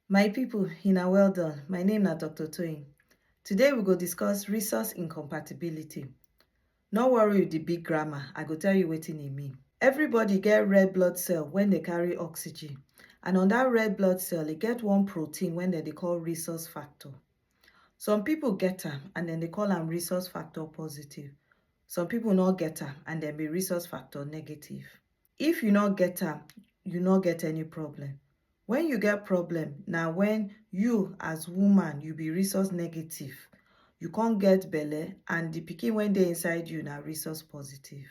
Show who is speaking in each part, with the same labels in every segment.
Speaker 1: My people, una well done. My name na Dr. Toyin. Today we go discuss resource incompatibility. No worry with the big grammar, I go tell you wetin e mean. Everybody get red blood cell when they carry oxygen and on that red blood cell e get one protein when dem dey call resource factor. Some people get am and dem dey call am resource factor positive. Some people no get am and dem be resource factor negative. If you no get am, you no get any problem. When you get problem, na when you as woman, you be resource negative. You come get belle and the pikin wey dey inside you na resource positive.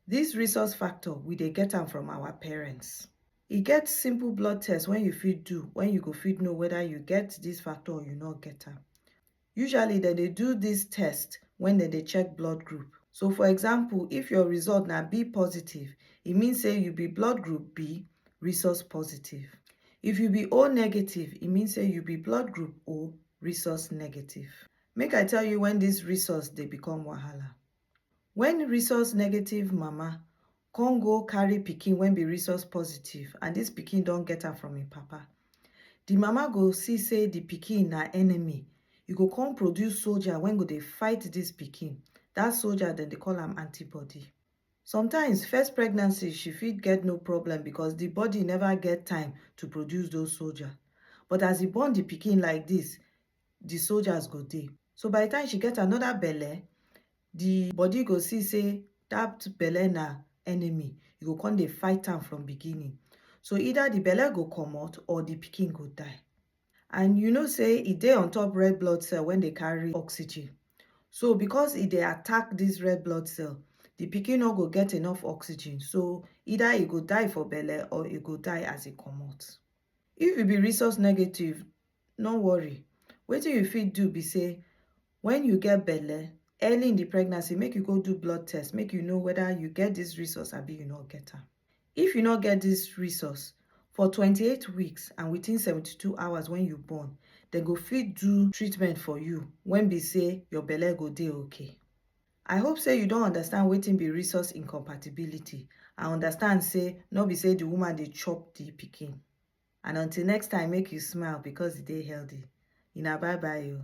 Speaker 1: This resource factor, we dey get am from our parents. E get simple blood test wey you fit do when you go fit know whether you get this factor or you no get am. Usually dem dey do dis test wen dem dey check blood group. So for example, if your result na B positive, e mean say you be blood group B, Rhesus positive. If you be O negative, e mean say you be blood group O, Rhesus negative. Make I tell you wen dis Rhesus dey become wahala. When rhesus negative mama come go carry pikin wey be rhesus positive and this pikin don get am from him papa, the mama go see say the pikin na enemy, e go come produce soldier wey go dey fight this pikin, that soldier dem dey call am antibody. Sometimes first pregnancy she fit get no problem because the body never get time to produce those soldier but as e born the pikin like this, di soldiers go dey. So by di time she get anoda belle, di body go see say dat belle na enemy, e go come dey fight am from beginning. So either di belle go comot or di pikin go die. And you know say e dey on top red blood cell wey dey carry oxygen. So because e dey attack dis red blood cell, di pikin no go get enough oxygen, so either e go die for belle or e go die as e comot. If you be rhesus negative, no worry wetin you fit do be say when you get belle early in the pregnancy make you go do blood test make you know whether you get this resource abi you no get am if you no get this resource for 28 weeks and within 72 hours when you born dem go fit do treatment for you when be say your belle go dey okay i hope say you don understand wetin be resource incompatibility and understand say no be say the woman dey chop the pikin and until next time make you smile because e dey healthy una bye bye oo